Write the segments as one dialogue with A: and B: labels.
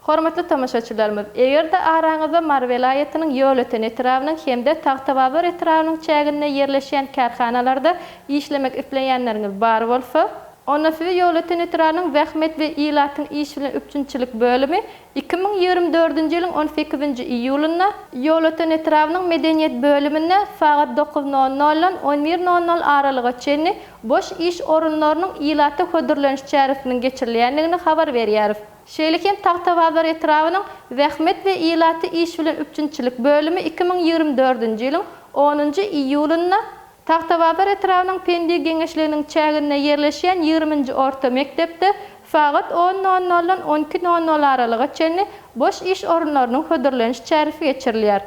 A: Hormatly tomaşaçylarymyz, eger-de araňyzda Mary welaýatynyň Ýolöten etrabynyň hem-de Tagtabazar etrabynyň çäginde ýerleşýän kärhanalarda işlemek isleýänleriňiz bar bolsa, onda sizi Ýolöten etrabynyň Zähmet we ilatyň iş bilen üpjünçilik bölümi iki müň ýigrimi dördünji ýylyň on sekizinji iýulynda Ýolöten etrabynyň Medeniýet bölüminde sagat dokuz nol noldan on bir nol nol aralyga çenli boş iş orunlarynyň ilata hödürleniş çäresiniň geçirilýändigini habar berýäris. Şeýle hem Tagtabazar etrabynyň Zähmet we ilaty iş bilen üpjünçilik bölümi iki müň ýigrimi dördünji ýylyň onunjy iýulynda Tagtabazar etrabynyň Pendik geňeşliginiň çäginde ýerleşýän ýigriminji orta mekdepde sagat on nol noldan on iki nol nol aralyga çenli boş iş orunlarynyň hödürleniş çäresi geçirilýär.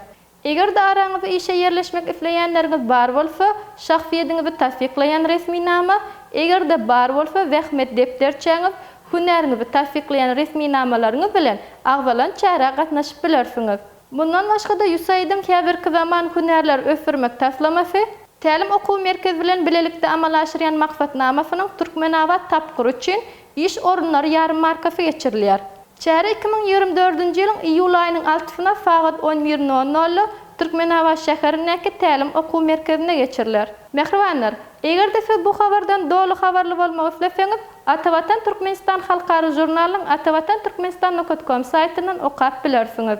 A: Eger-de araňyzda işe ýerleşmek isleýänleriňiz bar bolsa, şahsyýetiňizi tassyklaýan resminama, eger-de bar bolsa, zähmet depderçäňiz, hünäriňizi tassyklaýan resminamalaryňyz bilen agzalan çärä gatnaşyp bilersiňiz. Mundan başga-da USAID-iň Häzirki zaman hünärleri ösdürmek taslamasy, Tälim okuw merkezi bilen bilelikde amala aşyrýan maksatnamasynyň Türkmenabat tapgyry üçin Iş orunlary ýarmarkasy geçirilýär. Çäre iki müň ýigrimi dördünji ýylyň iýul aýynyň altysyna sagat on bir nol nolda Türkmenabat şäherindäki tälim okuw merkezinde geçiriler. Mähribanlar! Eger-de siz bu habardan doly habarly bolmak isleseňiz, Atavatan Türkmenistan halkara žurnalynyň atavatan-turkmenistan nukat kom saýtyndan okap bilersiňiz.